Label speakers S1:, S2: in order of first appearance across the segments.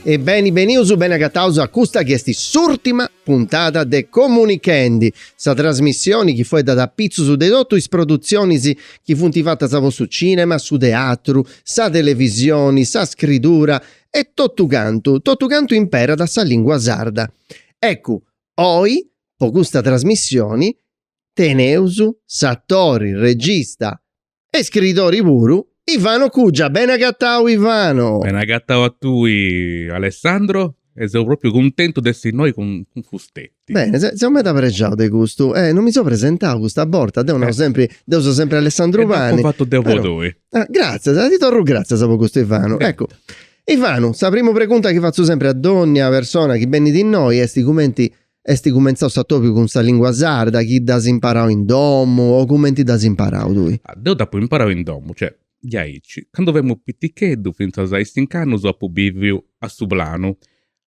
S1: E beni benius, beni agataus a custa chi est s'ùrtima puntada de Comunichendi, sa trasmissioni chi fueddat apitzus de totu is produtzionis chi funt fatas po su cinema, su teatru, sa televisioni, sa scridura e totu cantu, totu cantu imperat sa lingua sarda. Eccu, oi po custa trasmissioni teneus s'atori, regista, e iscridori puru Ivano Cugia, bene agatau Ivano. Bene agatau
S2: a tui Alessandro e seu propriu cuntentu de essi innoi cun fusteti. Bene, seu meda
S1: prexau de custu, eh, non mi seu presentau custa borta, deu nau sempri, deu seu sempri Alessandru Pani. E dd'apu fatu deu po
S2: tui. Gratzias, ti
S1: torru gratzias po custu Ivanu. Eccu, Ivanu, sa primu pregunta chi fatzu sempri a dònnia persona chi benit innoi est cumenti Est cumentzau s'atòbiu cun sa lìngua sarda, chi dd'as imparau in domu o cumenti dd'as imparau tui? Ah, deu dd'apu imparau
S2: in domu, cioè, diaici, candu femu piticheddu, fintzas a is cinc'annus apu bìviu a su Planu,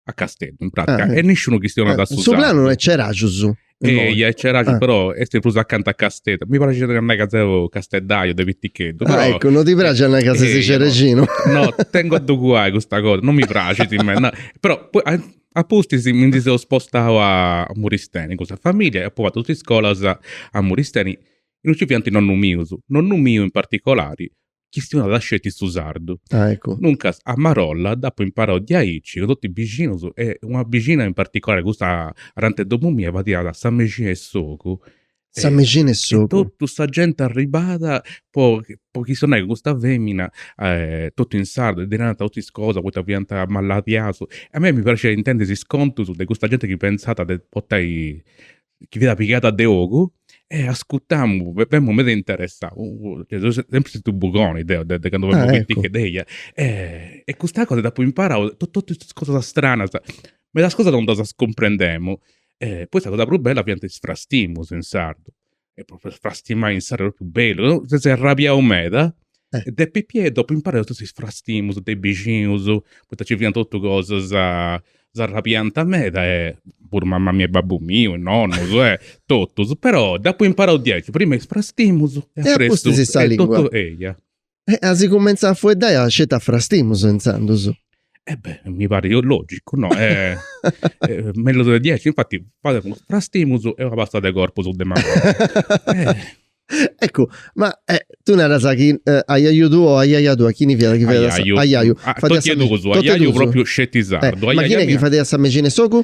S2: a Casteddu, in pràtica, e nisciunu chistionat su sardu. Su Planu no est
S1: Ceraxus imoi? Eia, est
S2: Ceraxus, però est prus acanta a Casteddu. Mi praxit a nai ca seu casteddaiu de piticheddu, però... Ah, eccu, no ti praxit
S1: a nai ca ses cerexinu? No, tengu a
S2: ddu cuai custa cosa, no mi praxit meda, no, però A pustis mi ndi seu spostau a Muristeni cun sa famìllia e apu fatu totu is iscolas a Muristeni, in ue nci fiant is nonnus mius, nonnu miu in particolari chistionat sceti su sardu.
S1: Duncas a
S2: marolla dd'apu imparau diaici cun totus is bixinus e una bixina in particolari, custa ananti 'e domu mia, fadiat sa mexina 'e s'ogu Sa
S1: mexina 'e s'ogu. E totu sa
S2: genti arribat po po chistionai cun custa femina totu in sardu e ddi narant totu is cosas poita fiant maladiaus. A mei mi praxiat intendi is contus de custa genti chi pentzat de portai, chi fiat pigada de ogu e ascutamu, femu meda interessau. Seu sempri stetiu bugoni deu de candu femu piticheddu, eia. E custa cosa dd'apu imparau, totu is cosas stranas. Medas cosas non ddas cumprendemu E poi sa cosa prus bella fiant is frastimus in sardu, e propriu frastimai in sardu est propriu bellu, deu seu sempri arrabiau meda e de pipiu dd'apu imparau totus is frastimus de is bixinus, poita nci fiant totus cosas, s'arrabiant meda e puru mama mia e babbu miu e nonnus e totus, però dd'apu imparau diaici, prima is frastimus e apustis
S1: sa lingua.
S2: E a si
S1: cumenzàt a fueddai a sceti a frastimus intzandus. E eh beh, mi
S2: parit logicu, no? Eh, eh, mellus de diaici, infatti fademus frastimus e una pasta de corpus de manu. eh.
S1: Eccu, ma eh, tu naras chi eh, a iaiu tuo o a iaia tua, chini fiat chi fueddàt a iaiu. Ah, totu e duus, a
S2: iaiu propriu sceti sardu. Eh, ma chini chi fadiat sa
S1: mexina 'e s'ogu?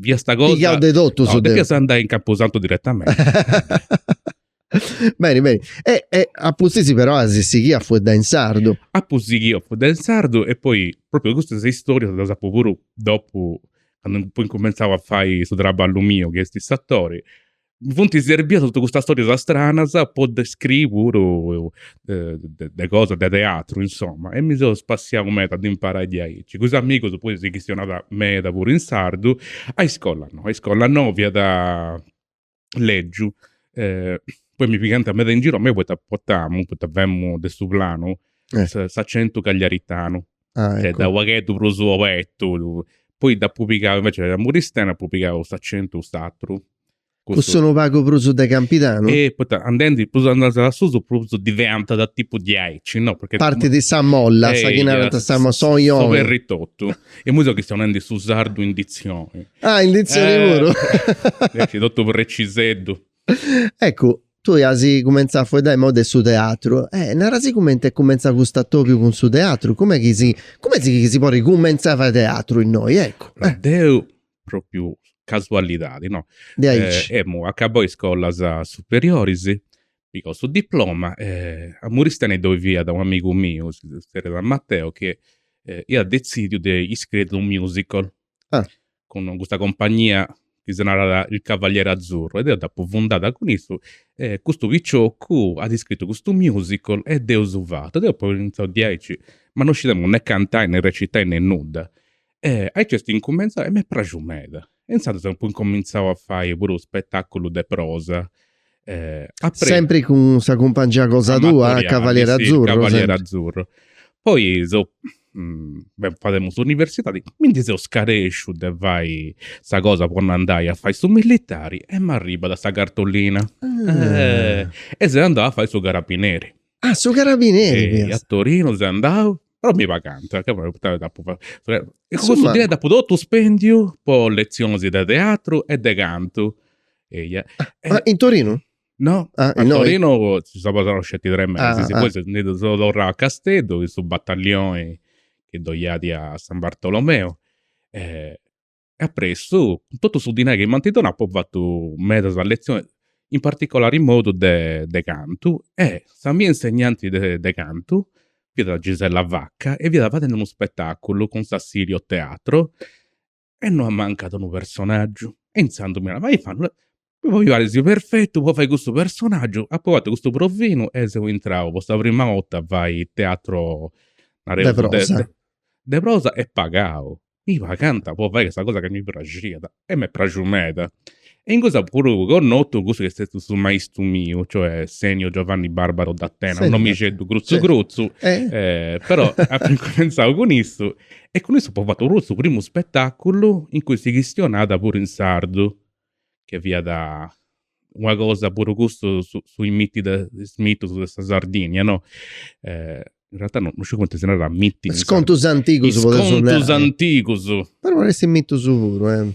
S2: fiat custa cosa. Pigau de totu su no,
S1: depias andai in
S2: Camposanto direttamenti.
S1: beni, beni. E, e apustis però as sighiu a fueddai in sardu. Apu sighiu
S2: a fueddai in sardu e poi proprio custa is istorias ddas apu puru dopu candu apu incumentzau a fai su traballu miu chi esti s'atori Mi funt serbias totu custas storias stranas po ddas scriri puru cosas de teatru insoma e mi seu spassiau meda a dda imparai diaici. Cun is amigus puru si chistionat meda puru in sardu. A iscola no, a iscola no, fiat legiu poi mi pigànt meda in giru a mei poita portamu, poita femu de Su Planu, s'accentu cagliaritanu. Ah, cioè, ecco.
S1: Unu pagheddu
S2: prus obertu. lu- Poi dd'apu pigau, invece a Muristeni, apu pigau s'accentu cust'atru. Cussu unu
S1: pagu prus de Campidanu. E poita andendi,
S2: prus andas a susu, prus diventat tipu diaici, no? Perché parti de sa
S1: molla, sa chi Eia, narant sa mo- so- s'oioni.
S2: S'oberritottu. E immoi seu chi seu nendi su sardu in ditzioni. Ah, in ditzioni Eh, puru.
S1: Invece totu
S2: preciseddu.
S1: Eccu, tui as cumentzau a fueddai moi de su teatru, e nara-sì cumenti est cumentzau custu atobiu cun su teatru, cumenti chi si, cumenti chi si podit cumentzai a fai teatru innoi, eccu. Deu,
S2: propriu casualidadi, no. De aici. Emu acabbau is scolas superioris, pigau su diploma e a Muristene ddoi fiat u' amigu miu, si zerriat Matteo, chi iat detzidiu de iscriri u' musical, Ah. cun custa compagnia chi si narat Il Cavaliere Azzurro e deu dd'apu fundada cun issu e custu picioccu at iscritu custu musical e dd'eus fatu e deu apu initziau diaici, ma non scidemus ne cantai ne recitai ne nudda. E aici est incumentzau e m'est praxiu meda. E intzandus apu incumentzau a fai puru spetaculus de prosa
S1: Sempri cun sa cumpangia cosa tua, Cavaliere Azzurro.
S2: Poi deu fademu s'universidadi, mi ndi seu scaresciu de fai sa cosa po no andai a fai su millitari e m'arribat sa
S1: cartolina e seu andau
S2: a fai su carabineri. Ah, su
S1: carabineri fiat. A
S2: Torinu
S1: seu
S2: andau, però mi pagànt, ca poita dd'apu fatu. Cussu dinai dd'apu totu
S1: spendiu
S2: po letzionis de teatru e de cantu
S1: Eia. Ah, in Torinu? No, ah,
S2: a
S1: Torino
S2: seu passau sceti tres mesis, ah, ah. poi ah.
S1: seu
S2: torrau a Casteddu, chi su battaglioni chi ddoi iat a San Bartolomeo, e e appressu, cun totu su dinai chi m'anti donau, apu fatu medas letzioni, in particolari in modu de de cantu, e sa mia insegnanti de de cantu fiat Gisella Vacca e fiat fadendi unu spetaculu cun s'Assilio Teatro, e nd' ammancàt unu personaggiu. E intzandus mi narat, ma io fanno una, mi paris perfettu po fai cussu personaggiu, apo fatu custu provinu e seu intrau po sa prima 'orta a fai teatro, nareus, de
S1: prosa, de
S2: prosa e pagau, mi pagànt po fai sa cosa chi mi praxiat e m'est praxiu meda. E in cussu apu puru connotu cussu chi est stetiu su maistu miu, cioè Senio Giovanni Barbaro Dattena, un nomixeddu crutzu crutzu, però
S1: apu
S2: incumentzau cun issu e cun issu apu fatu puru su primu spetaculu in cui si chistionat puru in sardu, che fiat una cosa puru cussu su su is mitti de is mitus de sa Sardigna no, in realtà no sciu cumenti si narat mitti in sardu. Is contus antigus
S1: podeusu
S2: nai. Is contus antigus.
S1: Però
S2: poneus is
S1: mitus puru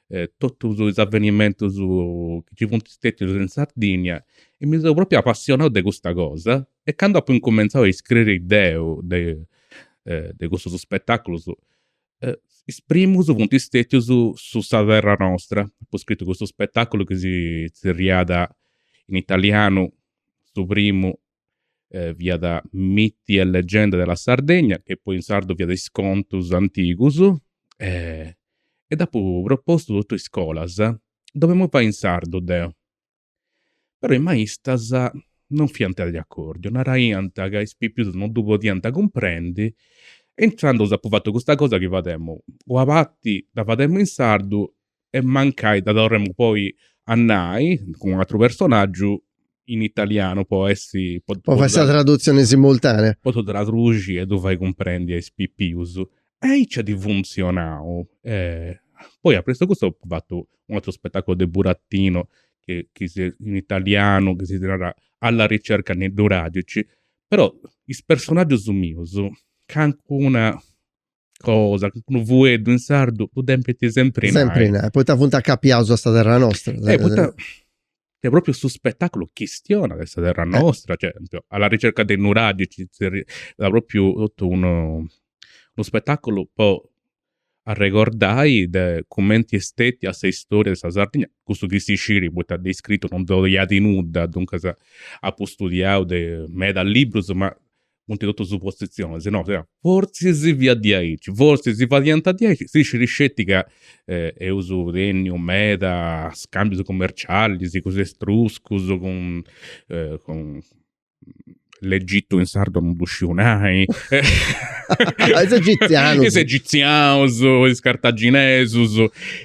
S2: totus is avenimentus chi nci funt stetius in Sardìnnia e mi seu propriu apassionau de custa cosa e candu apu incumentzau a iscriri deu de de custus spetaculus is primus funt stetius su sa terra nostra, apu scritu custu spetaculu chi si zerriat in italianu su primu fiat Miti e leggende della Sardegna, che poi in sardu fiat Is contus antigus, e dd'apu propostu totu in iscolas, ddu bolemu fai in sardu deu. Però is maistas non fiant de acordiu, naraiant ca is pipius non ddu podiant cumprendi e intzandus apu fatu custa cosa chi fademu una parti dda fademu in sardu e mancai dda torramu poi a nai cun un'atru personaggiu in italianu po essi po Po fai sa tradutzioni
S1: simultanea. po ddu traduxi
S2: e ddu fai cumprendi a is pipius. Aici at funtzionau e poi apressu 'e custu apu fatu un'atru spetaculu de burattinus chi chi si in italianu chi si narat Alla ricerca delle radici, però is personaggius mius calincuna cosa, unu fueddu in sardu ddu depint sempri nai. Sempri nai, poita
S1: funt acapiaus a sa terra nostra. Eh, poita
S2: est propriu su spetaculu chistionat de sa terra nostra, cioè alla ricerca delle radici, fiat propriu totu unu unu spetaculu po arregordai de cumenti est stetia sa istoria de sa Sardigna, cussu chi si scit poita de iscritu non ddoi at nudda, duncas apu studiau de meda librus ma funt totus supositzionis, si no sia. Fortzis fiat diaici, fortzis si fadiant diaici, si scit sceti ca eus tenniu meda scambius commercialis cun is etruscus, cun cun l'Egitu in sardu non ddu sciu
S1: nai. Is egizianus. Is
S2: egizianus, is cartaginesus,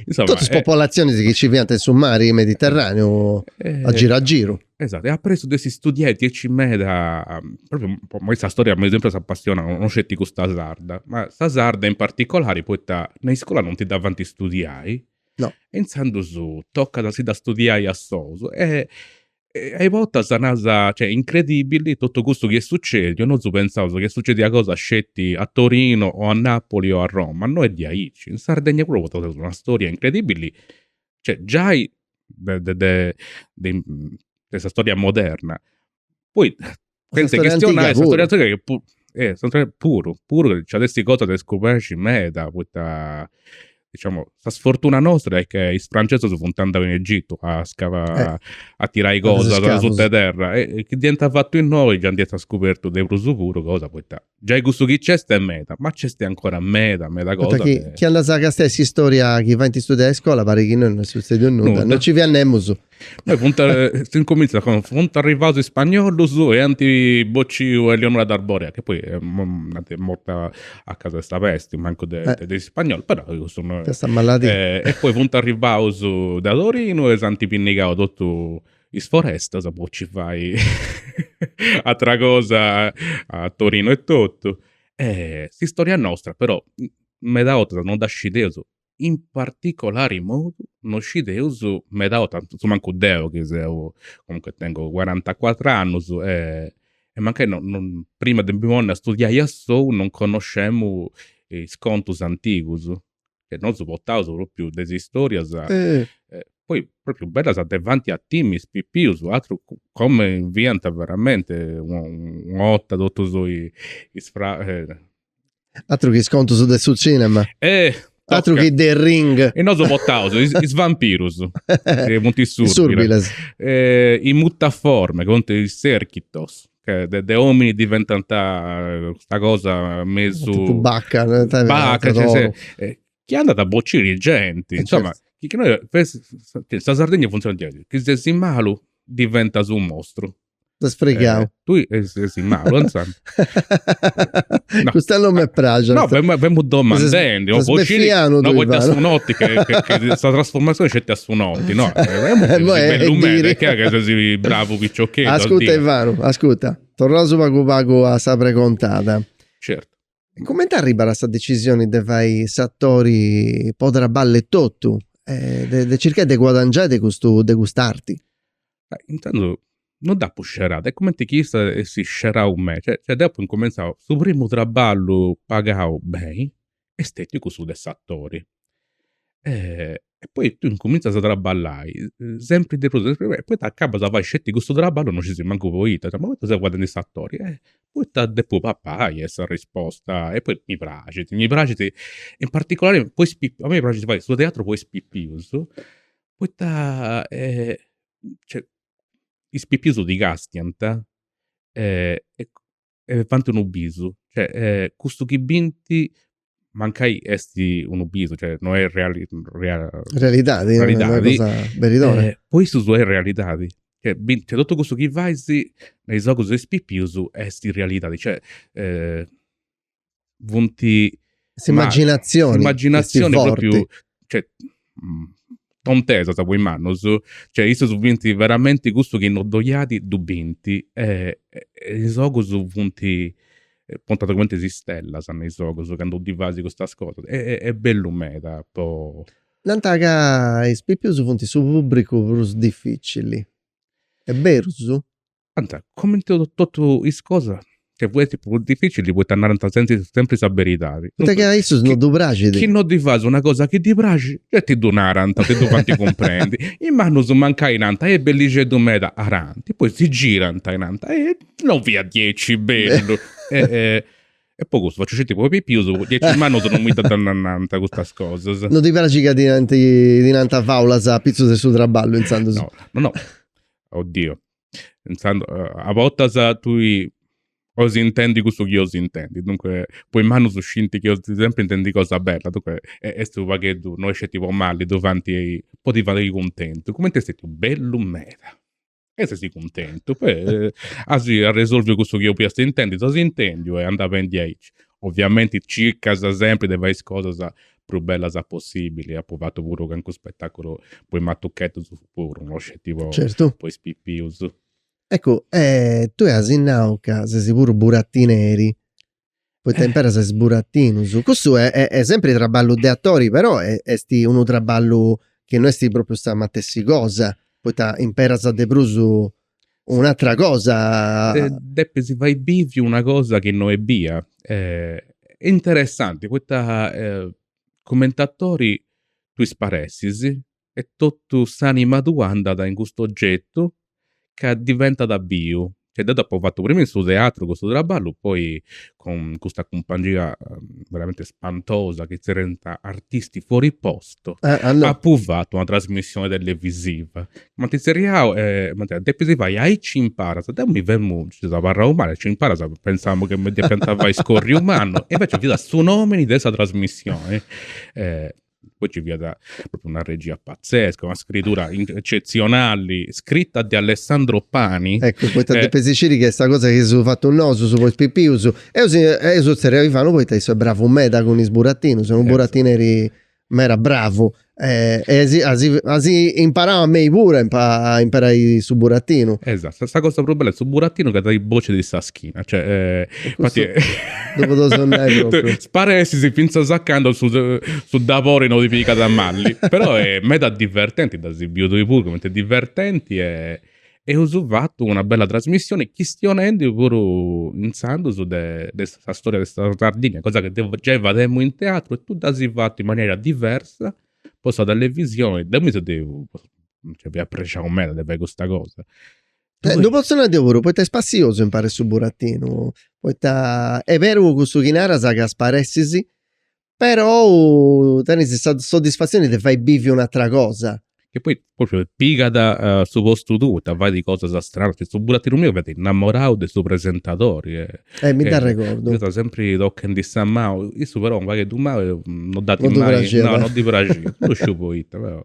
S2: insoma. Totus is popolatzionis
S1: chi nci fiant in su mari Mediterraneu a giru a giru. Esatu, e
S2: apressu de istudiai diaici meda, propriu po a mei sa storia m'est sempri apassionau, no sceti custa sarda, ma sa sarda in particolari poita me is scola non ti dda fant studiai, no, e
S1: intzandus
S2: tocat a si dda studiai a sous e a i bortas naras, cioè incredibili totu custu chi est sucediu, nosu pentzaus chi est sucedia cosa sceti a Torino o a Napoli o a Roma, no est diaici, in Sardegna puru potaus una storia incredibili Cioè, giai de, de, de, de, de sa storia moderna. Poi, senza storia chistionai, antiga sa storia puru. antiga che pu- eh, sa storia- puru, puru nci at a essi cosa de scoberri meda, poita, diciamo, sa sfortuna nostra est chi is francesus funt andau in Egitu a scava- a tirai is a fai is cosas scavus. suta 'e terra e chi dd'iant fatu innoi già nd'iant scubertu de prus puru cosa, poita Giai custu chi nc'est est meda, ma nc'est ancora meda meda cosa. Poita chi chi andas a
S1: castiai s'istoria chi faint istudiai in iscola parit chi innoi no est sutzediu nudda, Nudda. no nci fiat nemus. Poi funt
S2: s'incumintzat cun funt arrivaus is spagnolus e ant bociu a Eleonora d'Arborea, chi poi est morta a causa de sa pesti, mancu de Eh. de is spagnolus, però cussu no est. De sa maladia. E poi funt arrivaus de Torinu e s'ant pinnigau totu Is forestas po ci fai atera cosa a Torino e totu. E s'istoria nostra però meda 'otas non dda scideus, in particolari modu non scideus meda 'otas, su mancu deu chi seu comunque tengu cuarantacuatru annus e mancai no no prima de mi ponni a studiai assou non connoscemu is contus antigus. chi nosu potaus propriu de is istorias poi propriu bellas de fai a timi is pipius atru comenti fiant veramente una 'otta totus is
S1: Atru chi is contus de su cinema. Atru chi The Ring. E nosu
S2: potaus is vampirus chi funt is surbilas. Is muttaforme, chi funt is erchitos. de, de omini diventant custa cosa mesu totu
S1: bacca bacca cioè se
S2: eh, chi andat a bociri genti eh, insoma chi innoi sa Sardegna funtzionat diaici chi ses malu diventas unu mostru ses fregau
S1: eh tui
S2: ses malu
S1: insomm no custa non me praxit no femu femu
S2: domandendi no po sciri no
S1: poita su noti
S2: c'est sa trasfurmazioni sceti a su noti Ti no, bellu meda, che che sei bravo picciocchetto. Ascuta
S1: Ivano, ascuta. Torraus pagu pagu a sa pregontada. Certu.
S2: Cumenti arribas
S1: a sa decisioni de fai s'atori po traballu etotu, de circai de guadangiai de custu de cust'arti?
S2: Intzandus no dd'apu scerau, est cumenti chi issa essit scerau a mei, cioè deu apu incumentzau su primu traballu pagau beni, est stetiu cussu de s'atori. E poi tui incumintzas a traballai sempri de prus e sempri de prus e poi acabas a fai sceti cussu traballu non scisi mancu poita, ma poita seu fadendi s'atori, poita depu papai est s'arrisposta, e poi mi praxit, mi praxit in particolari po is pipius, a mei mi praxit fai su teatru po is pipius, poita cioè is pipius ti castiant e fant unu bisu, cioè custu chi bint mancai est unu bisu, cioè no est reali
S1: realidadi, realidadi,
S2: po issus est realidadi, cioè bint, cioè totu cussu chi fais me is ogus de is pipius est realidadi, cioè funt s'immaginazioni s'immaginazioni propriu cioè mm, tontesas po is mannus cioè issus bint veramenti cussu chi no ddoi at ddu bint e is ogus funt pontat cumenti is stellas me is ogus candu ddi fais custas cosas e est bellu meda po Nant ca
S1: is pipius funt su pubbricu prus difficili, est berus? Ant,
S2: comenti totu is cosas, funt is prus dificilis poita narant sentzi sempri sa beridadi. Poita chi a issus no
S1: ddu praxit. Chi no ddi fas una
S2: cosa chi ddi praxit, gei ti ddu narant, ti ddu fant cumprendi. Is mannus mancai nant, eh bellixeddu meda, narant, poi si girant e nant, eh no fiat diaici bellu. E po custu faciu sceti po pipius, diaici is mannus no mi ddas nant custas cosas. No ti praxit ca
S1: ti nant faulas apitzus de su traballu intzandus. No, no,
S2: oddio. a bortas tui 'osi intendi cussu chi 'osi intendi, duncue po is mannus scinti chi 'osi sempri intendi cosa bella, duncue est unu pagheddu, no est sceti po malli, ddu fanti po ti fai cuntentu, cumenti est stetiu bellu meda e sesi cuntentu, poi asi arresolviu cussu chi 'olias intendi, si dd'asi intendiu e andat beni aici. Oviamenti circas sempri de fai is cosas prus bellas possibili, apu fatu puru calincunu spetaculu po is matucheddus puru, no sceti po po is pipius. Eccu
S1: tui asi nau ca sesi puru buratineri, poita imperas is buratinus, cussu est sempri traballu de atori però est unu traballu chi no est propriu sa matessi cosa, poita imperas de prus un'atra cosa. Depis
S2: fai bivi una cosa chi no est bia. Interessanti poita cumenti atori tui sparessis e totu s'anima tua andat in custu ogetu ca diventat biu. Cioè deu dd'apu fatu prima in su teatru custu traballu poi cun custa cumpangia veramente spantosa chi tzerriant Artisti Fuori Posto, apu
S1: fatu una
S2: trasmissioni televisiva, m'ant tzerriau e m'ant nau, depis fai aici imparas, deu mi femu, nci seu abarrau mali, aici imparas, pentzamu chi mi depiant fai scorriu mannu e invece fiat su nomini de sa trasmissioni poi ci fiat propriu una regia pazzesca, una scritura eccetzionali, scritta de Alessandro Pani. Ecco, poita depis
S1: sciri chi est sa cosa chi eus fatu nosus po is pipius. Eus eus tzerriau a Ivanu poita issu est bravu meda cun is buratinus, est unu buratineri meda bravu e e as imparau a mei puru a imperai su buratinu. Esatto, sa cosa prus
S2: bella de su buratinu ca dai boci de is schina. Cioè, eh, infatti, eh, Dopo dos
S1: andai proprio. Sparessis
S2: finzas a candu su, su dabori no ti pigat a mali. Però è meda divertenti, dd'as biu tui puru cumenti è divertenti e eus fatu una bella trasmissioni chistionendi puru intzandus de, de sa storia de sa Sardigna, cosa ca deu giai fademu in teatru e tui dd'as fatu in manera diversa po sa televisioni. Deu mi seu de, cioè, fia prexau meda de fai custa cosa. Eh, Ddu
S1: potzu nai deu puru, poita est spassiosu imparai su burattinu, poita est beru cussu chi naras ca sparessis, però tenis sa soddisfatzioni de fai bivi un'atra cosa. Che poi propriu
S2: pigat su postu tuu poita fait cosas stranas, chi su burattinu miu fiat innamorau de su presentadori e Eh, mi
S1: dd'arregordu. Fiat sempri tochendi
S2: sa manu, issu però unu pagheddu mali non dd'at No ddi mai, praxiat. no, non ddi praxiat, no sciu poita però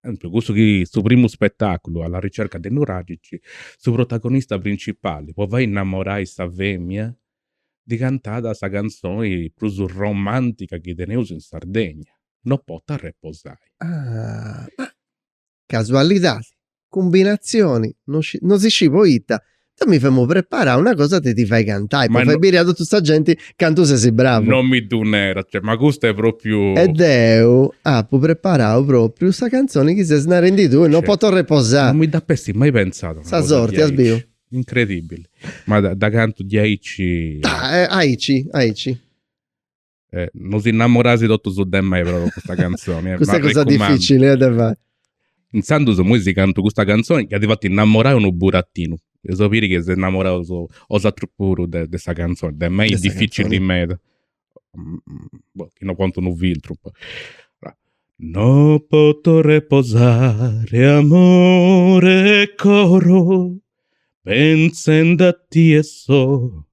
S2: Tantu cussu chi su primu spetàculu Alla ricerca dei nuragici, su protagonista principali po fai innamorai sa femia ddi cantàt sa cantzoni prus romantica chi teneus in Sardegna, No pottu arreposai. Ah,
S1: ma casualidadi, cumbinatzioni, no si scì poita, Deu mi femu preparau una cosa de ti fai cantai, po fai biri a totu sa genti cantu sesi bravu. No mi ddu neras,
S2: cioè, ma custu est propriu. E deu
S1: apu preparau propriu sa canzoni chi ses narendi tui, no poto reposai. Non mi dd'apessi
S2: mai pentzada una cosa diaici. Sa sorti, as
S1: biu.
S2: Incredibili. Ma dda cantu diaici. Aici,
S1: aici.
S2: Eh, non si innamorais totus de mei pro custa canzoni. Eh, custa è cosa
S1: difficili, eh, de fai.
S2: Insandus, immoi si cantu custa canzoni, chi at fatu innamorai unu burattinu. Eus a biri chi eis innamorau osatrus puru de, de sa canzoni. De mei est difficili meda. Boh, chi no pontu unu filtru. No poto reposare amore e coro pensende a tie so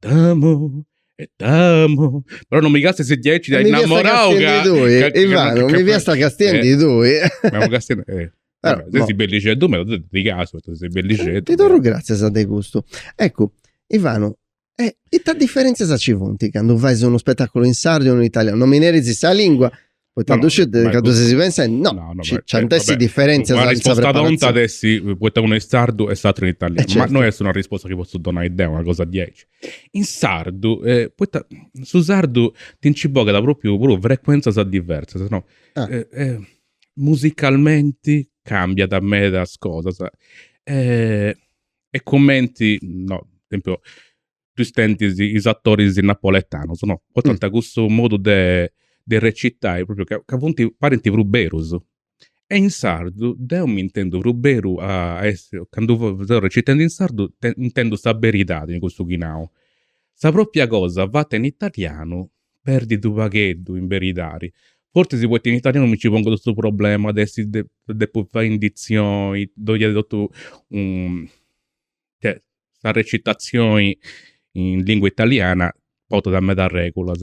S2: T'amo e t'amo. Però non mi castis diaici de innamorau ca... Ivano,
S1: mi fiasta castiendi tui. Ma castiendi...
S2: Eh. Però, ses bellixeddu meda, dicasu, ses bellixeddu. Ti torru grazias
S1: de custu. Eccu, Ivano, e ita differenzias ci funt candu fais unu spetaculu in sardu e unu in italianu? Non mi neris sa lingua. Poita ddu sciu ca ddu ses pensendi, no, ci ant a essi differenzias. Una risposta tonta
S2: iat essi, poita unu est in sardu e s'atru in italianu. Eh, certo. Ma non est una risposta chi potzu donai deu, una cosa diaici. In sardu, eh, poita su sardu ti nci bogat propriu puru frequenzias diversas, no? Ah. Eh, eh, musicalmenti cambiat medas cosas. Eh, est cumenti, no, esempiu, pensa a is atoris napoletanus no, portant cussu modu de de recitai propriu ca ca funt parint prus berus. E in sardu deu mi intendu prus beru a a essi, candu seu recitendi in sardu intendu sa beridadi in cussu chi nau. Sa propria cosa fata in italianu perdit u' pagheddu in beridadi, fortzis poita in italianu mi nci pongu totu su problema de essi de depu fai in dizioni, ddoi iat totu u che sa recitazioni in lingua italiana portat medas regulas.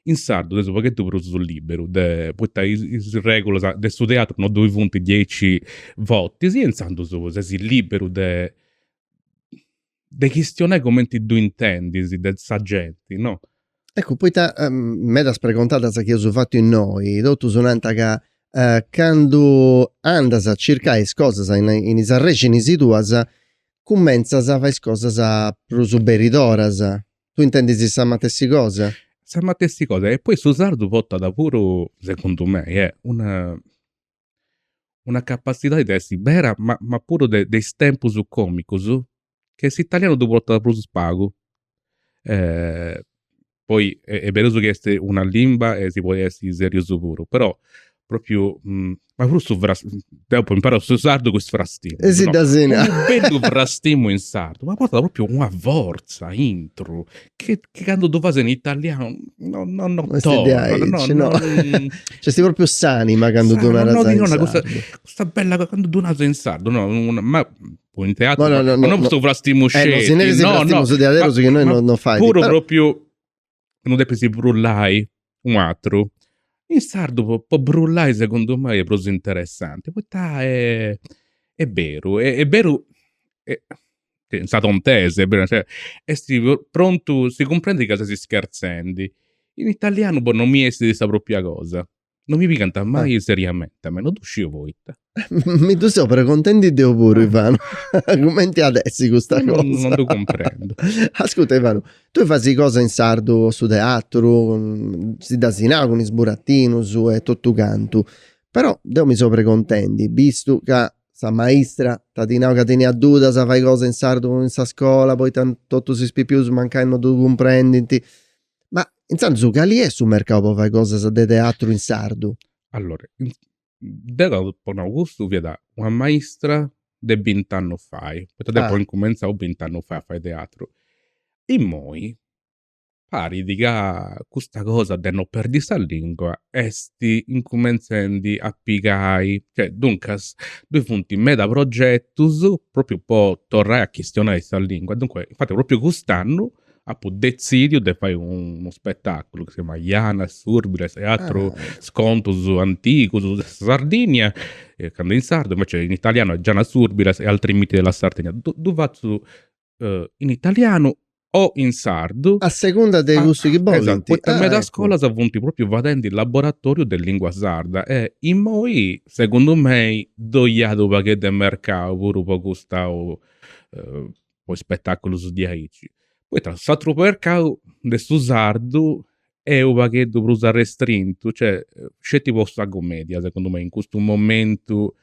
S2: In sardu ses u' pagheddu prus liberu de, poita is regulas de su teatru no ddoi funt diaici fortis e inzandus ses liberu de chistionai cumenti ddu intendis de sa genti, no. Eccu,
S1: poita medas pregontadas chi eus fatu innoi, totus nant ca candu andas a circai is cosas in in is arrexinis tuas, cumentzas a fai is cosas prus beridaderas. Tui intendis sa matessi cosa? Sa matessi
S2: cosa e poi su sardu portat puru, segundu mei, una una capatzidadi de essi bera ma ma puru de de is tempus comicus che s'italianu ddu portat prus pagu. Poi est beru chi est una limba e si podit essi seriu puru, però propriu ma puru su fras, deu apu imparau su sardu cun is frastimus no. Essi de assena. Unu bellu
S1: frastimu
S2: in sardu ma portat propriu una fortza aintru Ca candu ddu fas in italianu no no no torrat. No
S1: est no. C'est propriu s'anima candu ddu naras in sardu. No no ddi dona custa
S2: bella
S1: cosa, candu
S2: ddu naras in sardu no ma po in teatru no no no po su frastimu sceti. No si neris
S1: frastimus diaderus chi no no fait. Puru propriu
S2: ndi depis brullai Unu atru. In sardu po brullai segundu mei est prus interessanti poita est beru, est beru in sa tontesa, est prontu, si cumprendit ca ses ischerzendi. In italianu boh non mi bessit sa propria cosa, non mi pigant mai seriamenti, a mei, non ddu sciu poita. Mi ddu
S1: seu pregontendi deu puru Ivanu, cumenti at essi custa cosa. Non ddu
S2: cumprendu. Ascuta
S1: Ivanu, tui fasi cosa in sardu po su teatru, si dd'as nau cun is buratinus e totu cantu, però deu mi seu pregontendi, bistu ca sa maistra t'at nau ca teniat dudas a fai cosa in sardu in sa scola poita totus is pipius mancai non ddu cumprendint, ma intzandus cali est su mercau po fai cosa de teatru in sardu? Allora,
S2: Deu apu nau, cussu fiat una maistra de bint'annus fai, poita deu apu incumentzau bint'annus fai a fai teatru. Immoi parit ca custa cosa de no perdi sa lingua est incumentzendi a pigai, cioè, duncas ddoi funt meda progetus, propriu po torrai a chistionai sa lingua, dunque, infati propriu cust'annu apu detzidiu de fai unu spetaculu chi si chiamat Janas, Surbilas e atrus contus antigus de sa Sardigna, candu in sardu, invece in italianu est Janas, Surbilas e altri miti della Sardegna. Ddu ddu fatzu in italianu o in sardu. A segunda
S1: de cussu chi bolint. Esatto, poita in medas
S2: scolas funt propriu fadendi laboratoriu de lingua sarda e immoi, segundu mei, ddoi iat u' pagheddu 'e mercau puru po custa po is spetaculus diaici. Poita s'atru mercau de su sardu est u' pagheddu prus arrestrintu, cioè sceti po sa cumedia segundu mei in custu momentu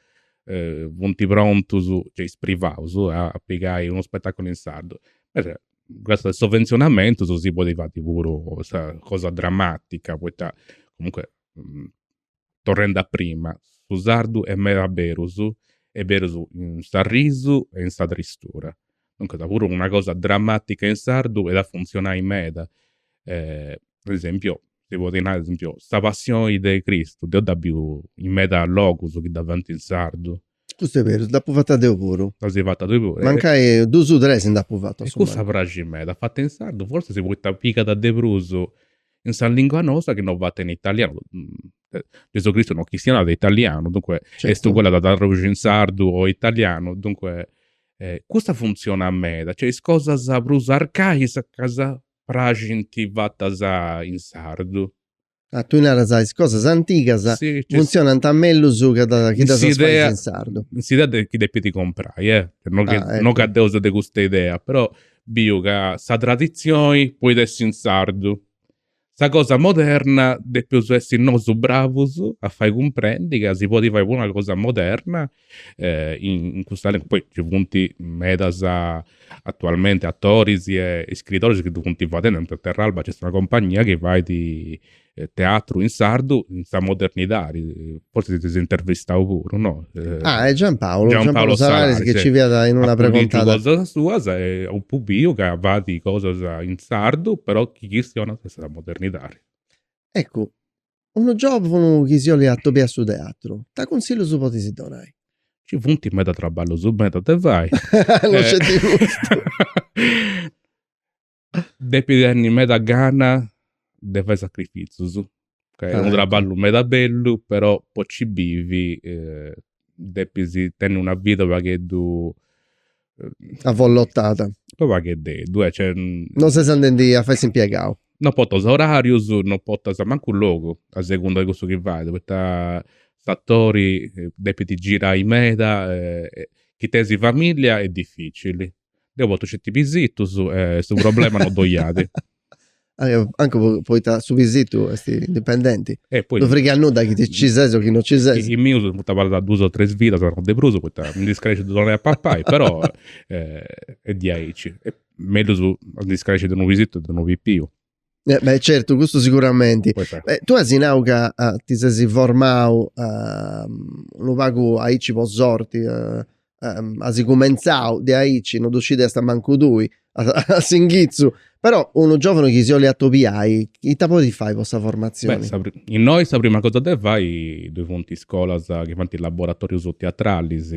S2: funti prontus, cioè is privaus, a pigai unu spetaculu in sardu. Invece cun is sovvenzionamentus, si podit fai puru sa cosa dramatica, poita comunque torrendi a prima, su sardu est meda berus e berus in s'arrisu e in sa tristura. Duncas puru una cosa drammatica in sardu iat a funtzionai meda, po esempio si podit nai po esempio sa passioni de Cristu deu dd'apu biu in meda logus chi dda fant in sardu, Custu est beru,
S1: dd'apu fata deu puru. Dd'asi fata tui
S2: puru. Mancai dus o
S1: tres nd'apu fatu a su mancu. Cussa praxit
S2: meda, fata in sardu forsis poita pigat de prus in sa lingua nosa chi no fata in italianu. Gesù Cristu non chistionàt italianu, duncue est uguali de dda
S1: traduxi
S2: in sardu o italianu, duncue cussa funtzionat meda, cioè is cosas prus arcaicas praxint fatas in sardu. Ah, tui
S1: naras is cosas antigas
S2: funtzionant
S1: mellus chi ddas chi ddas fais in sardu. In s'idea de chi depit
S2: comporai eh, no chi no ca deu seu de custa idea, però biu ca sa traditzioni podit essi in sardu, sa cosa moderna depeus essi nosu bravus a fai cumprendi ca si podit fai puru una cosa moderna in custa lingua, poi ci funt medas atualmenti atoris e iscritoris chi ddu funt fadendi, po esempio a Terralba nc'est una compagnia chi fait teatru in sardu in sa modernidadi, forzis dd'eis intervistau puru, no? Ah e
S1: Giampaulu, Giampaulu Salaris chi nci fiat in una preguntada. Apu litu cosas suas
S2: e apu biu ca fait cosas in sardu, però chi chistionat sa modernidadi. Eccu,
S1: unu giovunu chi si 'olit atobiai a su teatru, ita cunsillus podis donai? Ci funt meda
S2: traballus meda de fai. No sceti custu. Depit tenni meda gana de fai sacrifitzus, ca est unu traballu meda bellu, però po ci bivi depis tenni una vida u' pagheddu Avvollotada
S1: U' pagheddeddu eh cioè
S2: Non ses andendi
S1: a fai s'impiegau Non portas orarius,
S2: non portas mancu logu a segunda de cussu chi fais poita s'atori depit girai meda e chi teis familia est dificili. Deu portu sceti pisitus e su problema non ddoi iat
S1: anche poita su pisitu est indipendenti, non
S2: frigat nudda chi
S1: ci ses o chi non ci ses. Is mius funt abarrat
S2: duas o tres vidas, no de prus, poita mi ndi scresciu de donai a papai, però est diaici. Mellus a ndi scresci de unu pisitu che de unu pipiu. Beh
S1: certu, custu siguramenti. Poita. Tu as nau ca ti ses formau unu pagu aici po sorti, asi cumentzau de aici, no ddu scidiasta mancu tui, a s'inghitzu, però unu giovanu chi si 'olit atobiai, ita podit fai po sa formatzioni? Beh, innoi sa
S2: prima cosa de fai ddoi funt iscolas chi faint laboratorius teatralis,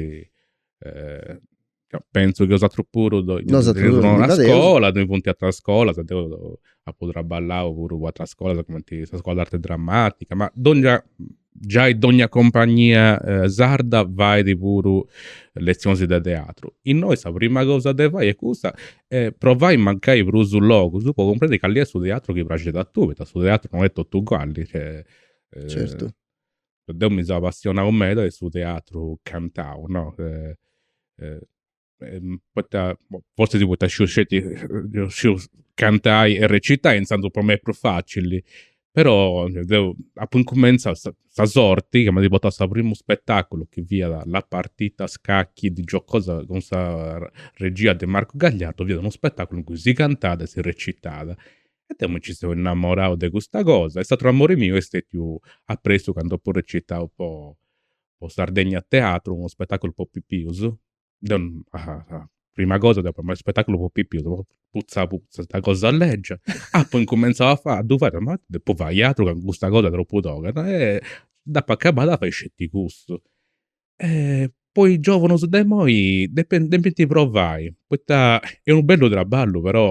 S2: pentzu chi bosatrus puru ddoi teneis una iscola, ddoi funt ateras iscolas, deu apu traballau puru po ateras iscolas cumenti sa scola de arti dramatica, ma donnia giai dogna compagnia sarda fait puru letzionis de teatru. Innoi sa prima cosa de fai est custa e provai mancai prus logus po cumprendi cali est su teatru chi praxit a tui, poita su teatru no est totu uguali.
S1: Certu. Deu
S2: mi seu apassionau meda de su teatru cantau, no. ehm, poita, boh, fortzis poita sciu sceti, deu sciu cantai e recitai, intzandus po mei est prus facili, però deu apu incumentzau sa sa sorti m'at portau a su primu spetaculu chi fiat La partita a scacchi di Giacosa cun sa regia de Marco Gagliardo, fiat unu spetaculu in cui si cantàt e si recitàt. E deu mi nci seu innamorau de custa cosa e s'aturu amori miu est stetiu apustis candu apu recitau po po Sardegna Teatro, unu spetaculu po pipius, deu prima cosa deu apu nau mai spettaculu po pipius po puzza puzza 'ta cosa leggia apu incumentzau a fai a ddu fai ma depu fai aturu ca custa cosa tropu toga e dd'apu acabada a fai sceti custu e po is giovunus de imoi depint provai poita est unu bellu traballu però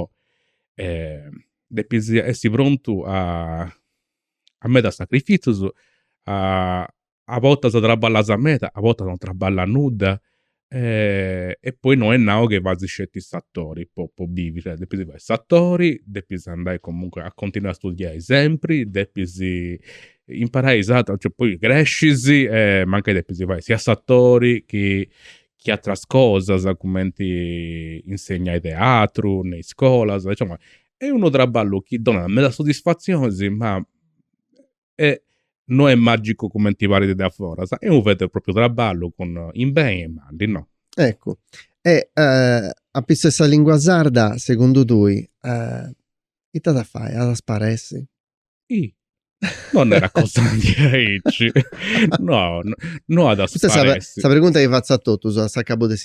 S2: depis essi prontu a a meda sacrifitzus a a bortas traballas meda, a bortas non traballas nudda e poi no est nau chi fatzas sceti s'atori po po bivi, cioè depis fai s'atori, depis andai comunque a continuai a studiai sempri, depis imparai is ateras, cioè poi crescis e mancai depis fai sia s'atori chi chi ateras cosas, cumenti insegnai teatru in iscolas, insoma est unu traballu chi donat meda soddisfatzionis ma e no est magicu cumenti parit de a foras, est unu veru e propriu traballu cun in beni e in mali, no?
S1: Eccu, e a pissu 'e sa lingua sarda, segundu tui, ita at a fai, at a sparessi?
S2: Ih, no nerist cosa de aici, no, no at a sparessi. Custa est sa pregunta chi fatzu a
S1: totus a s'acabu de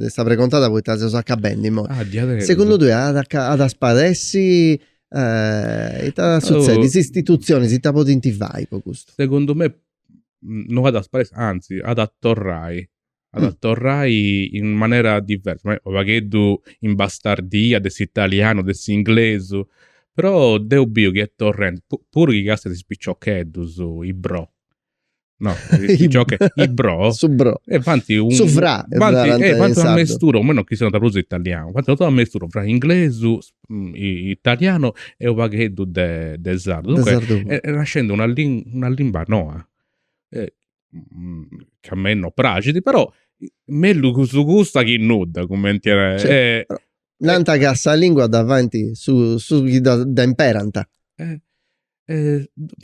S1: sa pregontada poita seus acabendi imoi. Ah diaderus. Segundu tui at a sparessi Eh, ita at sutzedit? Is istitutzionis ita podint fai po custu? Segundu
S2: mei no at a sparessi, anzi at a torrai, at a torrai in manera diversa, mancai unu pagheddu imbastardia de s'italianu, de s'inglesu, però deu biu chi est torrendi, puru chi castias is piciocheddus, is bro, No, cioè is bro. Su bro. E
S1: fanti un Su
S2: fra.
S1: Fanti, eh, fanti
S2: una mestura, a menu chi siant prus italianu. Fanti una mestura fra inglesu, mm, italianu e unu pagheddu de de sardu. Dunque, de sardu. E, est nascendi una lin, una limba noa. Eh, mm, chi a mei no praxidi, però mellus custu custa chi nudda, cumenti nai. Cioè, eh, Nanta ca
S1: sa lingua dda faint is, is chi dda, dda imperant. Eh.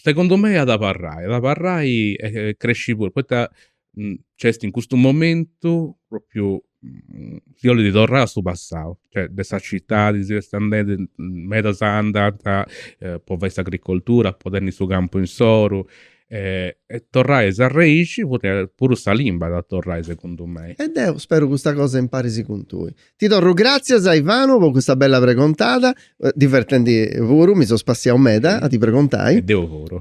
S2: Segundu mei at abarrai, at abarrai e cresci puru, poita nc'est in custu momentu propriu, si 'olit torrai a su passau, cioè de sa citadi si est andendi, medas andant po fai s'agricoltura, po tenni su campu insoru, e torrai a is arrèxinis, puru sa limba at a torrai segundu mei. E deu speru custa
S1: cosa imparis cun tui. Ti torru gràtzias Ivanu po custa bella pregontada, divertenti puru, mi so spassiau meda a ti pregontai. E deu
S2: puru.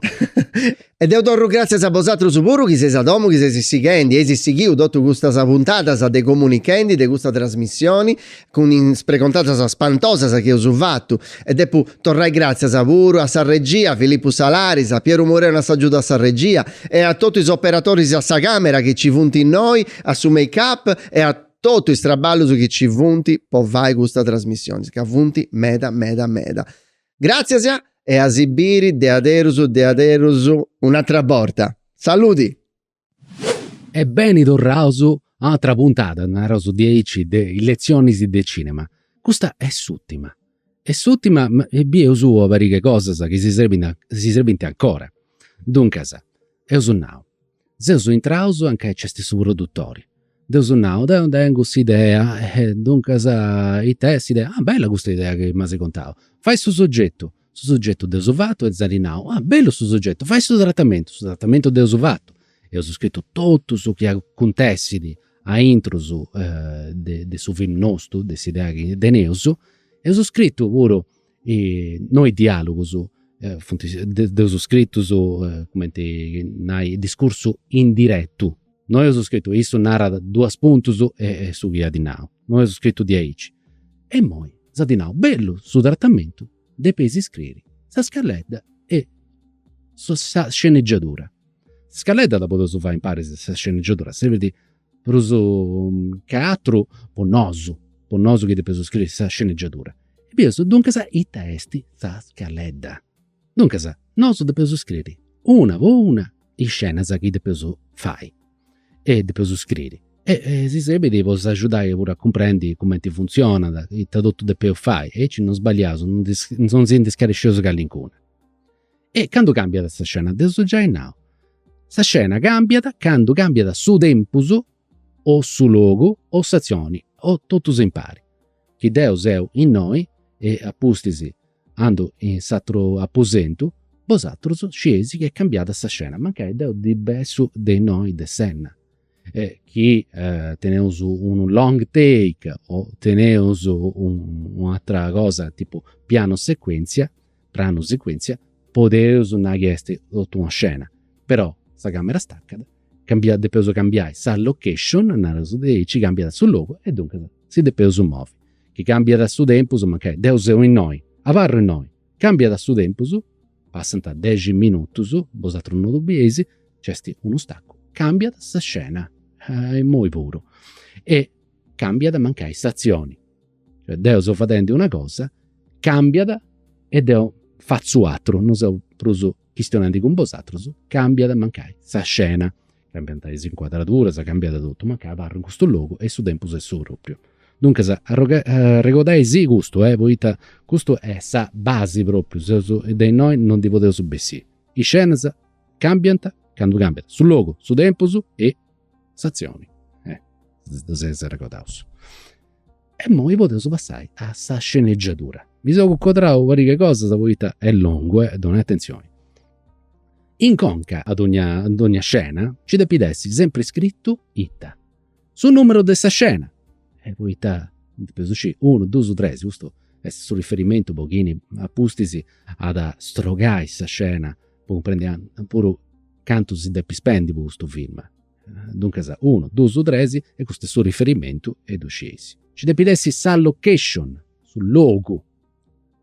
S2: E deu
S1: torru gràtzias a bosatrus puru chi seis a domu, chi seis sighendi, eis sighiu totu custas puntadas de Comunichendi, de custa trasmissioni, cun is pregontadas spantosas chi eus fatu. E depu torrai gràtzias puru a sa regia, Filippu Salaris, a Pieru Mureu in agiudu de sa regia e a totu is operatoris a sa càmera chi nci funt innoi, a su make up e a. totu is traballus chi ci funt po fai custa trasmissionis ca funt meda meda meda. Gratzias e a si biri a aterus a aterus un'atra borta. Saludi!
S3: E beni torraus a un'atra puntada, naraus diaici, de is Letzionis de Cinema. Custa est s'ùtima. Est s'ùtima e bieus una pariga 'e cosas chi si srebint, si srebint ancora. Duncas, eus nau. Seus intraus anca nc'est su produtori. Dd'eus nau, deu tèngiu custa idea, duncas it'est s'idea, ah bella custa idea chi m'as contau, fai su soggetu, su soggetu dd'eus fatu e s'at nau, ah bellu su soggetu, fai su tratamentu, su tratamentu dd'eus fatu, eus scritu totu su chi acontessit aintrus de su filmu nostu, de s'idea chi teneus, eus scritu puru No is diàlugus ddus eus scritus, cumenti nai, discursu indiretu. No eus scritu, issu narat duas puntus e su chi at nau. No eus scritu diaici. Imoi s'at nau, bellu su tratamentu, depeis scriri sa scaleta e sa sceneggiatura. Sa scaleta dda podeus fai impari, sa sceneggiatura servit Prus che àteru po nosu, po nosu chi depeus scriri sa sceneggiatura. E bieus, duncas, ita est sa scaleta. Duncas, nosu depeus scriri una po una is scenas chi depeus fai e depeus scriri e si serbit po s'agiudai puru a cumprendi cumenti funtzionat, ita totu depeus fai aici non sbagliaus, non si ndi scaresceus calincuna. E candu càmbiat sa scena? Dd'eus giai nau, sa scena càmbiat candu càmbiat su tempus o su logu o s'atzioni o totus impari. Chi deu seu innoi e a pustis andu in s'àteru aposentu, bosatrus scieis chi est cambiada sa scena, mancai deu ndi bessu de innoi de s'enna. e chi teneus unu long take o teneus un'atera cosa tipu piano secuentzia pranu secuentzia podeus nai chi est totu una scena però sa camera staccat cambiat depeus cambiai sa location nareus diaici cambiat su logu e duncas si depeus movi chi cambiat su tempus mancai deu seu innoi abarru innoi Cambiat su tempus, passant dexi minutus, bosatrus no ddu bieis, nc'est unu stacu, cambiat sa scena, e imoi puru, e cambiat mancai s'atzioni, cioè deu seu fadendi una cosa, cambiat e deu fatzu atru, no seu prus chistionendi cun bosatrus, cambiat mancai sa scena. Cambiant is incuadraduras, cambiat totu, mancai abarru in custu logu e su tempus est su propriu. Duncas arregodai·sì custu, poita custu est sa basi propriu, seus de innoi no ndi podeus bessì. Is scenas cambiant candu cambiat su logu, su tempus e s'atzioni. Si ddu arregodaus. E immoi podeus passai a sa sceneggiatura. Mi seu cuncodrau una pariga 'e cosas poita est longu e donai atenzioni. In conca a dogna dogna scena nci depit essi sempri scritu ita? Su numeru de sa scena, poita depeus scì, unu dusu tresi, custu est su riferimentu po chini apustis at a strogai sa scena po cumprendi puru cantu si depit spendi po custu film. Duncas unu, dus, tres e custu est su riferimentu e ddu scieis. Nci depit essi sa location, su logu,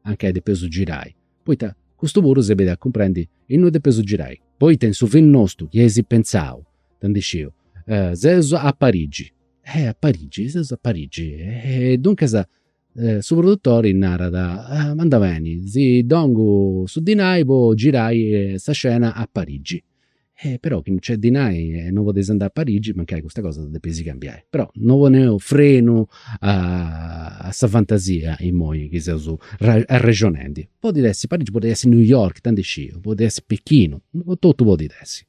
S3: a nca depeus girai, poita custu puru srebit a cumprendi innui depeus girai. Poita in su film nostu chi eis pentzau, ita ndi sciu, seus a Parigi. Eh a Parigi, seus a Parigi. E duncas su produtori narat, m'andat beni, si dongu su dinai po girai sa scena a Parigi. E però chi non nc'est dinai, no podeis andai a Parigi mancai custa cosa dda depeis cambiai. Però no poneus frenu a sa fantasia imoi chi seus arrexonendi. Podit essi Parigi, podit essi New York, ita ndi sciu, podit essi Pechinu, totu podit essi.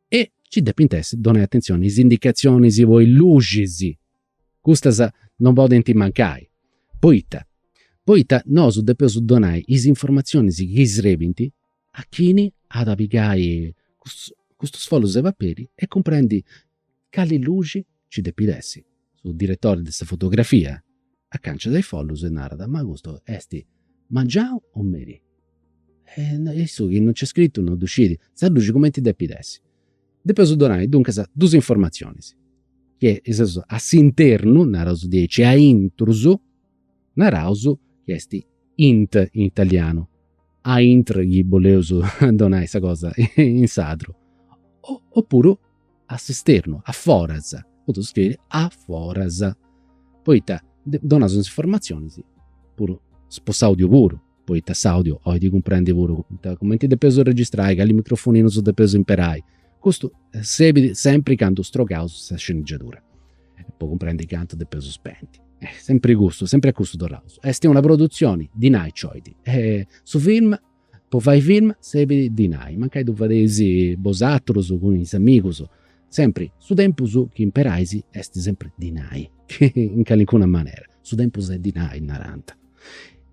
S3: E nci depint essi donai atenzioni is indicatzionis po is luxis Custas non podent mancai, poita poita nosu depeus donai is informatzionis chi srebint a chini at a pigai custus custus follus de paperi e cumprendi cali luxi nci depit essi. Su diretori de sa fotografia acanciat is follus e narat, ma custu est mangianu o merì? E issu chi non nc'est scritu non ddu scidi. Sa luxi cumenti depit essi? Depeus donai, duncas, duus informatzionis, chi seus a s'internu, naraus diaici a intrus, naraus chi est int in italianu, a intr chi boleus donai sa cosa in sardu, opuru a s'esternu, a foras, podeus scriri a foras, poita donaus is informatzionis puru po s'audiu puru poita s'audio oit cumprendi puru comenti depeus registrai, cali microfoninus depeus imperai, custu sebit sempri candu strogaus sa scenegiadura po cumprendi cantu depeus spendi. Sempri custu, sempri a custu torraus. Est una produtzioni dinai nci oit, su film, po fai film sebit dinai, mancai ddu fadeis bosatrus cun is amigus Sempri, su tempus chi imperais est sempri dinai, in calincuna manera, su tempus est dinai, narant.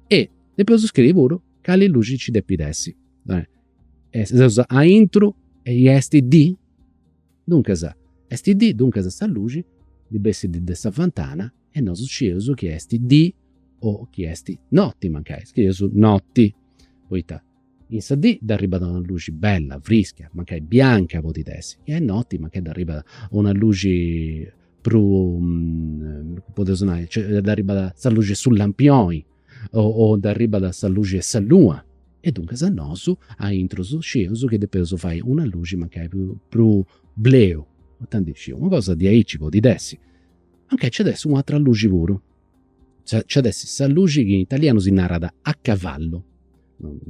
S3: E depeus scriri puru cali luxi nci depit essi. Seus aintru e i est dì, duncas, est dì, duncas sa luxi ndi bessit de sa fantana e nosu scieus chi est dì o chi est noti mancai, scrieus noti, poita In sa dì dd'arribat una luxi bella, frischia, mancai bianca podit essi, chi est noti mancai dd'arribat una luxi prus, podeus nai, dd'arribat sa luxi 'e su lampioni o dd'arribat sa luxi 'e sa luna. E duncas nosu aintrus scieus chi depeus fai una luxi mancai prus bleu, ita ndi sciu, una cosa diaici podit essi. Mancai nc'at essi u'atera luxi puru Nc'at essi sa luxi chi in italianu si narat a cavallu.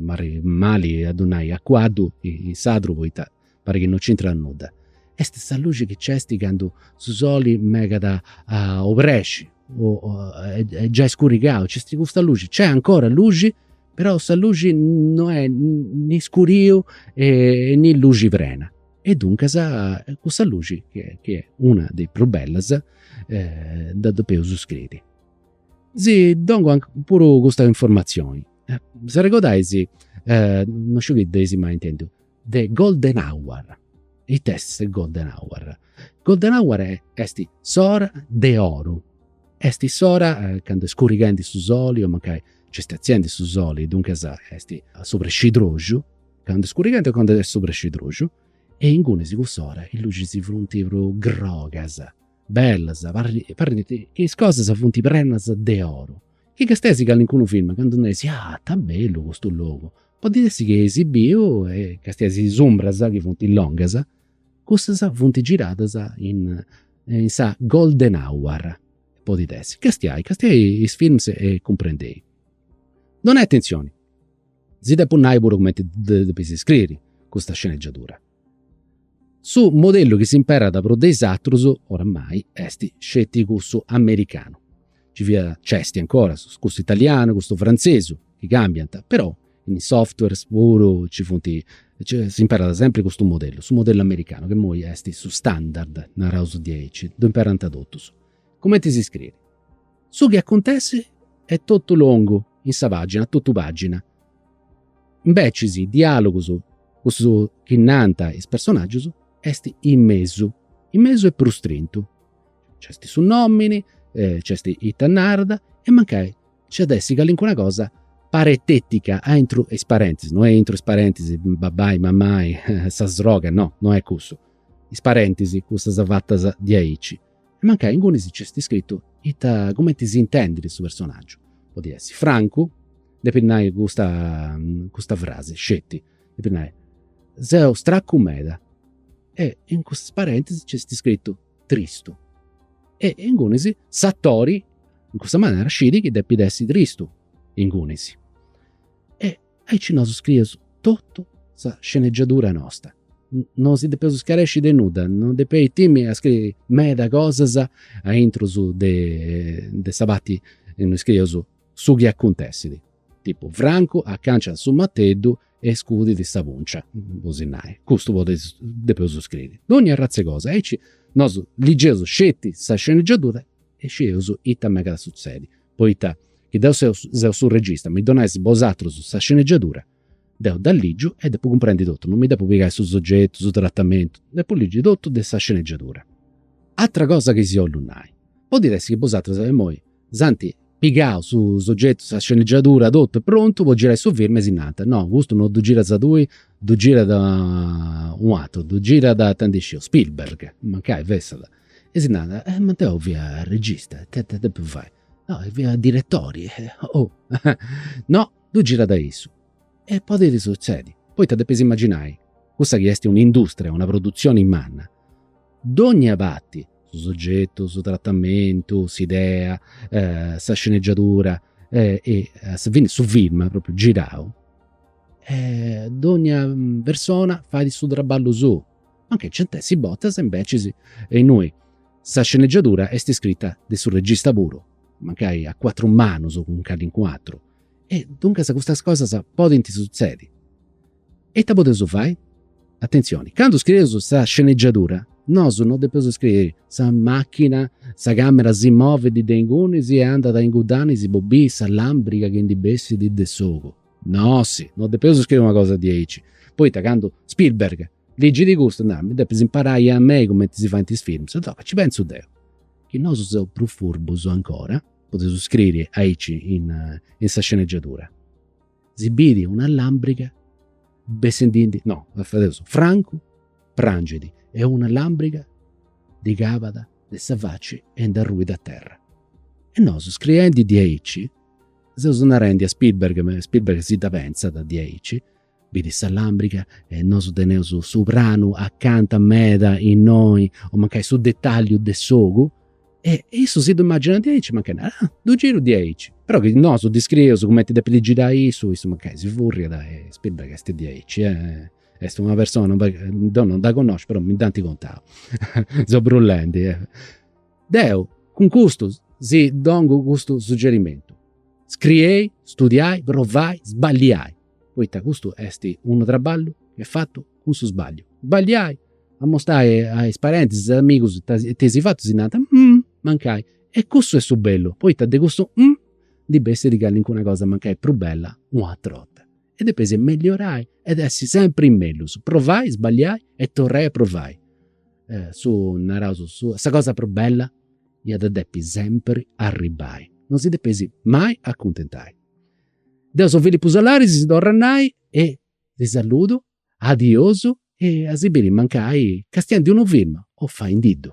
S3: Parrit mali a ddu nai a cuaddu in sardu poita parit chi no nc'intrat nudda. Est sa luxi chi nc'est candu su soli megat a obrexi o est giai scurigau, nc'est custa luxi. Nc'est ancora luxi, però sa luxi no est ni scuriu e ni luxi prena. E duncas cussa luxi, chi est una de is prus bellas, dda depeus scriri. Si dongu puru custa informazioni, s'arregodais, non sciu chi dd'eis mai intendiu, de golden hour. Ita est golden hour? Golden hour est s'ora de oru, est s'ora candu est scurighendi su soli o mancai nc'est atziendi su soli, duncas est a s'obrescidroxu, Candu est scurighendi o candu est s'obrescidroxu e ingunis cuss'ora is luxis funt prus grogas, bellas, parrit chi is cosas funt prenas de oru. Chi castiais calincunu filmu candu nareis, ah ta bellu custu logu, podit essi chi eisi biu e castiais is umbras chi funt longas, cussas funt giradas in in sa golden hour, podit essi. Castiai, castiai is films e cumprendei. Donai atenzioni Si depu nai puru cumenti dda depis scriri sa sceneggiadura. Su modellu chi s'imperat prus de is atrus, oramai, est sceti cussu americanu. Nci fiat, nc'est ancora, cussu italianu, cussu frantzesu, chi cambiant, però in is software puru nci funt, s'imperat sempri custu modellu, su modellu americanu, ca imoi est su standard, naraus diaici, ddu imperant totus. Cumenti si scriri? Su chi acuntessit est totu longu in sa pàgina, a totu pàgina. Imbecis is is diàlogus, cussu chi nant is personàgius, est in mesu, in mesu e prus strentu. Nc'est su nòmini, nc'est ita narat e mancai nc'at a essi calincuna cosa parentètica aintru 'e is parèntesis, no est aintru 'e is parentis, babbai, mammai, sa sroga, no, no est cussu. Is parèntesis, cussas fatas diaici e mancai ingunis nc'est iscritu ita cumenti si intendit su personaggiu, podit essi Francu, depit nai custa custa frasi sceti, depit nai, seu stracu meda e in custas parèntesis nc'est iscritu tristu e ingunis s'atori in cussa manera scit chi depit essi tristu ingunis e Aici nosu scrieus totu sa scenegiadura nosta. No si depeus scaresci de nudda, no depeis timi a scriri meda cosas aintrus de sa parti innui scrieus su chi acuntessit. Tipu, Francu acanciat su mateddu e scudit sa puncia, po si nai. Custu podit, depeus scriri dogna arratz'e cosa. Aici nosu ligeus sceti sa scenegiadura e scideus ita megat a sutzedi. poita chi deu seu su regista, mi donais bosatrus sa sceneggiadura, deu dda ligiu e depu cumprendi totu, non mi depu pigai su sogetu, su tratamentu, depu ligi totu de sa sceneggiadura. Atra cosa chi si 'ollu nai, podit essi chi bosatrus imoi s'ant pigau su sogetu, sa sceneggiadura, totu est prontu po girai su film e si nant, no custu non ddu giras tui, ddu girat un'atru, ddu girat, ita ndi sciu, Spielberg, mancai fessat E si narat, eh ma deu fia regista, e ita depu fai? No, fia diretori. Oh! No, ddu girat issu. E podit sutzedi, poita depis imaginai, cussa chi est un'industria, una produtzioni manna, dogna parti, su sogetu, su tratamentu, s'idea, sa sceneggiadura e a su fini su film propriu girau, dogna persona fait su traballu suu, mancai nc'ant essi bortas imbecis innui sa sceneggiadura est iscrita de su regista puru, mancai a cuatru manus cun calincun'atru, e duncas custas cosas podint sutzedi. E ita podeus fai? Atentzioni, candu scrieus sa sceneggiadura nosu no depeus scriri sa machina, sa camera si movit de ingunis e andat a inguddanis po biri sa lambriga chi ndi bessit de s'ogu, No, si, no depeus scriri una cosa diaici. Poita candu Spielberg ligit custu narat, mi depis imparai a mei cumenti si faint is films. E dopu ci pentzu deu, chi nosu seus prus furbus ancora, podeus scriri aici in sa sceneggiatura, si biri una lambriga bessendindi, no, fadeus, Francu prangidi e una lambriga ddi calat de sa faci e nd'arruit a terra. E nosu scriendi diaici Seus narendi a Spielberg, ma Spielberg si dda pentzat diaici, bidit sa làmbriga e nosu teneus su pranu acanta meda innoi o mancai su detalliu de s'ogu e issu si ddu imaginat diaici mancai narat, ah, ddu giru diaici. Però chi nosu ddi scrieus cumenti depit girai, issu mancai si furriat e Spielberg est diaici, est una persona, deu non dda connosciu però mi dd'ant contau, seu brulendi Deu cun custu si dongu custu suggerimentu, scriei, studiai, provai, sballiai, poita custu est unu traballu chi est fatu cun su sballiu. Sballiai, amostai a is parentis, a is amigus ita eis fatu, si nant, mancai. E custu est su bellu, poita de cussu ndi bessit calincuna cosa mancai prus bella un'àtera 'orta. E depeis melliorai ed essi sempri in mellus, provai, sballiai e torrai a provai Su, naraus, su, sa cosa prus bella iat a depi sempri arribbai, non si depeis mai acuntentai. Deu seu Filipu Solaris, si torru a nai e si saludu, adiosu e a si biri mancai castiendu unu film o faindiddu.